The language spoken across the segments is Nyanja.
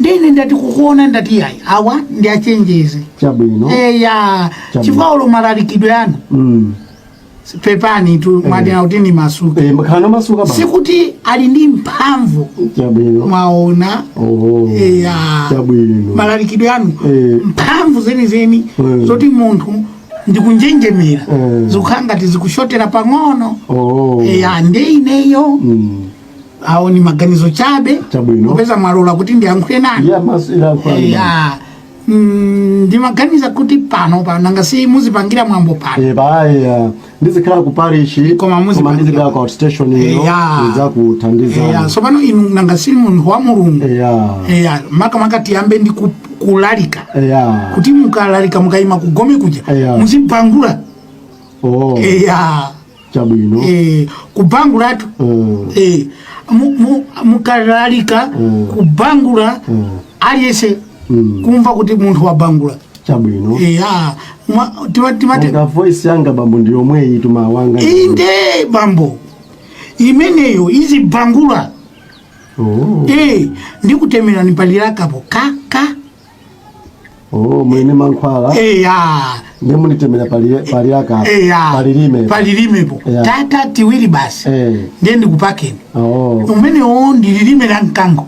nde ine ndati kukuona ndati yayi awa ndi achenjeze chabwino eya Chabwino. chifukwa olo malalikidwe anu Mm. pepanitu mwanena kuti nimasuke Eh, mukhale omasuka bwana sikuti ali ndi mphamvu chabwino mwaona Oh. eya chabwino malalikidwe anu Eh. mphamvu zenizeni Mm. zoti munthu ndikunjenjemera Mm. zikukhala ngati zikushotera pang'ono Oh. eya nde ineyo Mm. awo ni maganizo chabe Chabwino. popeza mwalola kuti ndiyankhule nanu ya maso ilankhula ndi ndani? ya mm, ndimaganiza kuti panopa nanga si muzipangira mwambo pano Eh, baya ndizikhala ku parish Koma muzipangira- ndizikhala ku outstation Eh, ino ya. Eh, ya ndidzakuthandizani tsopano inu nanga si munthu wa mulungu eya Eh, ya makamaka tiyambe ndi ku- kulalika eya kuti mukalalika mukayima kugome kuja Eh, ya. muzibangula oh eya chabwino eh, kubangulatu Mm. eh, mu- mu- mukalalika Mm. kubangula Mm. aliyese Mm. kumva kuti munthu wabangula chabwino Eh, ah, mwa- tima- timati ngakhale voice yanga bambo ndi yomwe iyi timayankhula inde bambo imeneyo izibangula Oh. eh, ndikutemerani palilakapo kaka Oh, mwanena mankhwala eya ndiye munitemere pali- palilaka eya palilime palilimepo Eya. tating'ono tiwiri basi Eh. ndiye ndikupakeni Oh, limenelo ndi lilime la mkango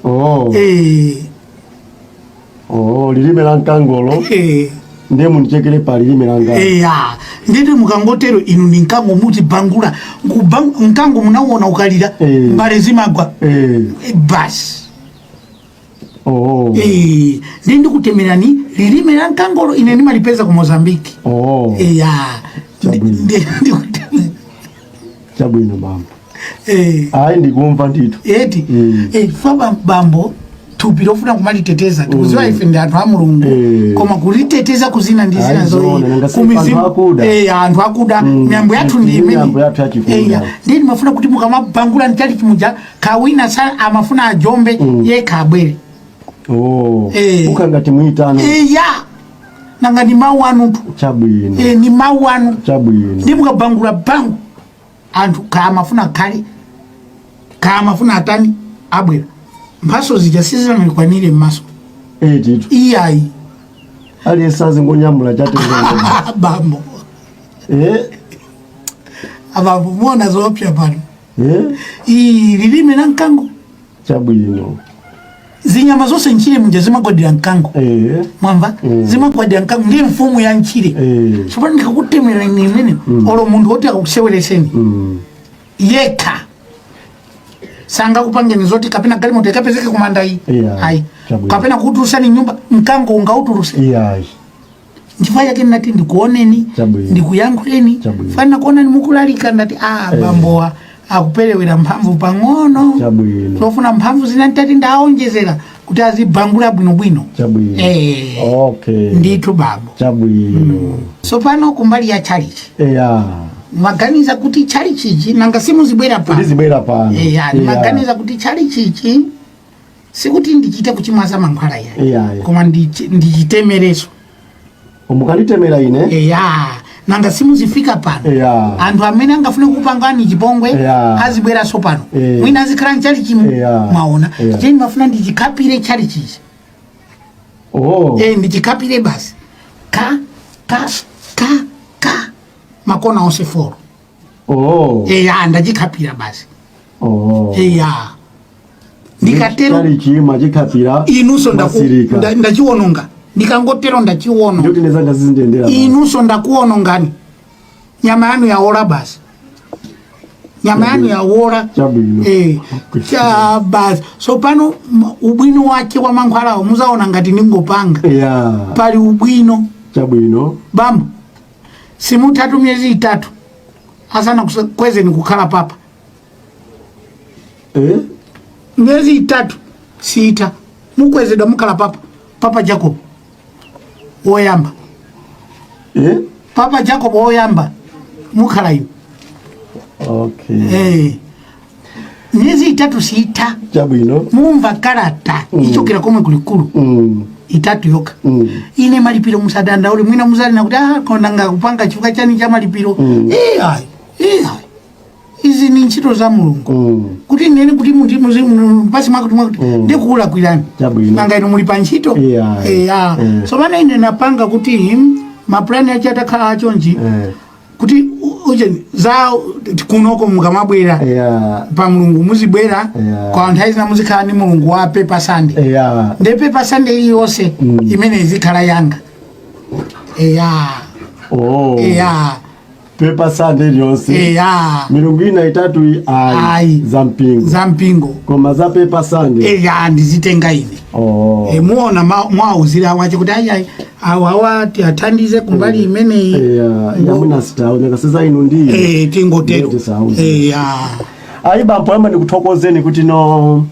oh, Eh, oh, lilime la mkangolo eh, ndiye munichekere palilime la mkangolo eya ndiye mukangotero inu ndi mkango muzibangula Nkubang- mkango munauona ukalira Eh. mbale zimagwa Eh, Eh, basi oh. Eh, ndiye ndikutemerani lilime la mkangolo ine ndimalipeza ku mozambiki oh. eya chabwino bambo eh. ayi ndikumva ndito eti mm. eh, chifukwa bambo thupi limafuna kumaliteteza tikuziwa mm. ife ndi anthu a mulungu eh. koma kuliteteza kuzina ndi zina zoyipa anthu akuda mm. miyambo yathu ndi imeneyi ndiye ndimafuna kuti mukamabangula mchalichi muja kaya wina sa amafuna ajombe mm. yekha abwere oh. eh. mukangoti muyitano eh, ya nanga ni mawu anutu chabwino eh, ni mawu anu chabwino ndiye mukabangula bangu anthu kaya amafuna kale kaya amafuna atani abwere mphaso zija sizinanikwanire mmaso eh, titu iyayi aliyense azingonyamula chatenga bambo eh? abambo muona zoopsa pano Eh? Ii, lilime la mkango chabwino zinyama zonse ntchire muja zimagwadira mkango eh. mwamva mm. zimagwadira mkango ndi mfumu ya ntchire eh. tsopano ndikakutemerani imene mm. olo munthu woti akukusewereseni mm. yekha sangakupangeni zoti kapena galimoto ikapezeke kumandayi yeah. ayi kapena kukutulusani nyumba mkango ungautuluse yeah. nchifukwa chake ndinati ndikuoneni Chabwino. ndikuyankhuleni Chabwino. ndafuna kuonani mukulalika ndati a bambowa akuperewera mphamvu pang'ono Chabwino. zofuna mphamvu zina nditati ndiwaonjezera kuti azibangula bwinobwino Chabwino. Eh. Okay. ndithu babo Chabwino. tsopano kumbali ya chalichi Eya. maganiza kuti chalichichi nanga simuzibwera pano Ndizibwera pano. eya Eya. maganiza kuti chalichichi sikuti ndichite kuchimwaza mankhwala iya Iya, iya. koma ndichi- ndichitemereso mukaditemera ine eya nanga simuzifika pano Eya. anthu amene angafune kupangani chipongwe Eya. azibweranso pano Eh. mwina azikhala mchalichimu Eya. mwaona Eya. cheni mafuna ndichikhapire chalichichi oh. Eh, ndichikhapire basi ka ka ka ka makona onse foro oh. eya ndachikhapira basi oh. eya ndikatero chima chikhapira inunso ndachiwononga ndikangotero ndachiwononga inunso ndakuwonongani nyama yanu yaola basi nyama yanu yaola eh, cha basi so pano ubwino wake wa mankhwalawo muzaona ngati ndingopanga yeah. pali ubwino chabwino bambo simutha miyezi itatu asanakukwezeni kukhala papa Eh? miyezi itatu siitha mukwezedwa mukhala papa papa Jakobo woyamba Eh? papa Jakobo woyamba mukhala inu Okay. eh. miyezi itatu siitha chabwino mumva kalata ichokera komwe kulikulu Mm, itatu yoka mm. ine malipiro musadandaule mwina muzanena kuti ah, koma nanga kupanga chifukwa chani cha malipiro Mm. iyayi iyayi izi ni ntchito za mulungu Mm. kuti nene kuti muti muzi- mu- mpasi mwakuti mwakuti Mm. ndikulakwirani Chabwino. nanga inu muli pa ntchito Iyayi. eya Eh. tsopano ine napanga kuti mapulani ache atakhala achonji Eh. kuti ujeni za kunoko mukamabwera yeah. pa mlungu muzibwera yeah. kwa nthawi zina muzikhala ndi mlungu wa Paper Sunday yeah. nde Paper Sunday iliyonse mm. imene izikhala yanga eya oh. eya Paper Sunday iliyonse eya milungu ina itatu ayi za mpingo za mpingo koma za Paper Sunday eya ndizitenga ine Oh. Eh, muona ma- mwawauzira awache kuti ayi awa awa tiathandize kumbali imeneyi Yeah, yeah, mwina sitaoneka sasa inu ndi Eh, tingotero Ndeti sauzi. Eh, ya. ayi bambo yamba ndikuthokozeni kuti no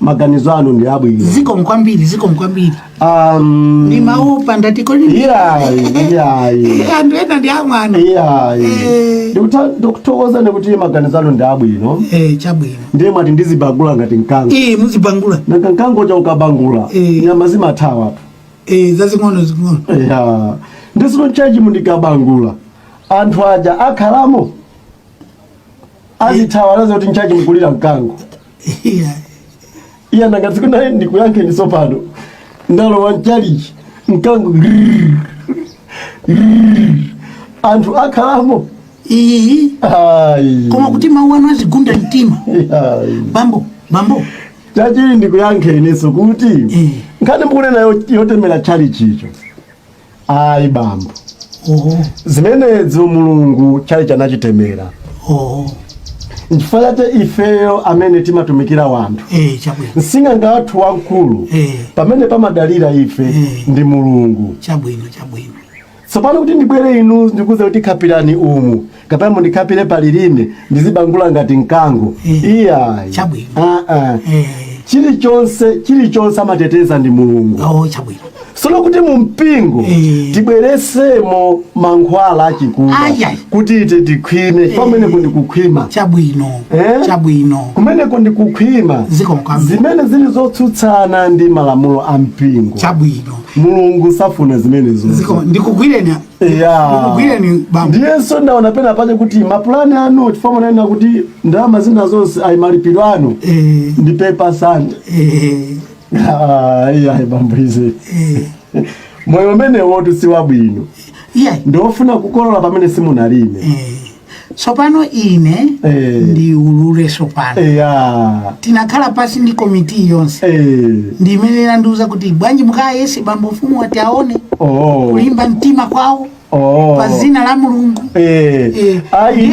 maganizo anu ndi abwino zikomo kwambiri zikomo kwambiri um, ndi maupa ndatikoli iyayi iyayi anthu ena ndi amwana iyayi Eh. ndikuthokozeni kuti maganizo anu ndi abwino Eh, chabwino ndiye mwati ndizibangula ngati mkango eh muzibangula nanga mkango cha ukabangula Eh. nyama zimathawa tu eh zazing'ono zing'ono ya ndisinu tchalitchi mundikabangula anthu aja akhalamo azithawa nanga kuti nchaji mukulira mkango Yeah. iye nanga tsiku naye ndikuyankheni sopano ndalowa mtchalitchi mkango grrrr, grrrr. anthu akhalamo Ii, Ai. koma kuti mawu anu azigunda mtima Ai. bambo bambo tchalitchi ndikuyankheninso kuti Eh. nkhani mukunena yo- yotemera tchalitchicho ayi bambo oho zimenezo mulungu tchalitchi anachitemera oho nchifukwa chake ifeyo amene timatumikira wanthu eh chabwino sing'anga wathu wamkulu Eh. pamene pamadalira ife Eh. ndi mulungu chabwino chabwino Tsopano kuti ndibwere inu ndikuuze kuti khapirani umu kapena mundikhapire pa lilime ndizibangula ngati mkango. Eh, Iyayi. chabwino. Ah, ah. Eh, Chilichonse chilichonse amateteza ndi Mulungu. oh, chabwino. Sono kuti mu mpingo Eh. tibweresemo mankhwala achikuda Ayai. kuti ite tikhwime pamenepo ndikukhwima Chabwino. Eh? Chabwino. kumeneko ndikukhwima Zikomo kwambiri. zimene zili zotsutsana ndi malamulo a mpingo Chabwino. mulungu safuna zimenezo Ziko- ndikugwireni Yeah. ndikugwireni bambo ndiyenso ndaona pena pache kuti mapulani anu chifukwa munanena kuti ndalama zina zonse ayi malipiro anu Eh, ndi pepa sande eh, iyayi bambo ize eh. moyo umenewotu si wabwino iyayi ndiwofuna kukolola pamene simunalime Eh, tsopano ine Eh. ndiulule tsopano eya tinakhala pasi ndi komiti yonse Eh. ndi imene inandiuza kuti bwanji mukayese bambo mfumuwa tione oh kulimba mtima kwawo oh pa dzina la mulungu eh Eh. ayi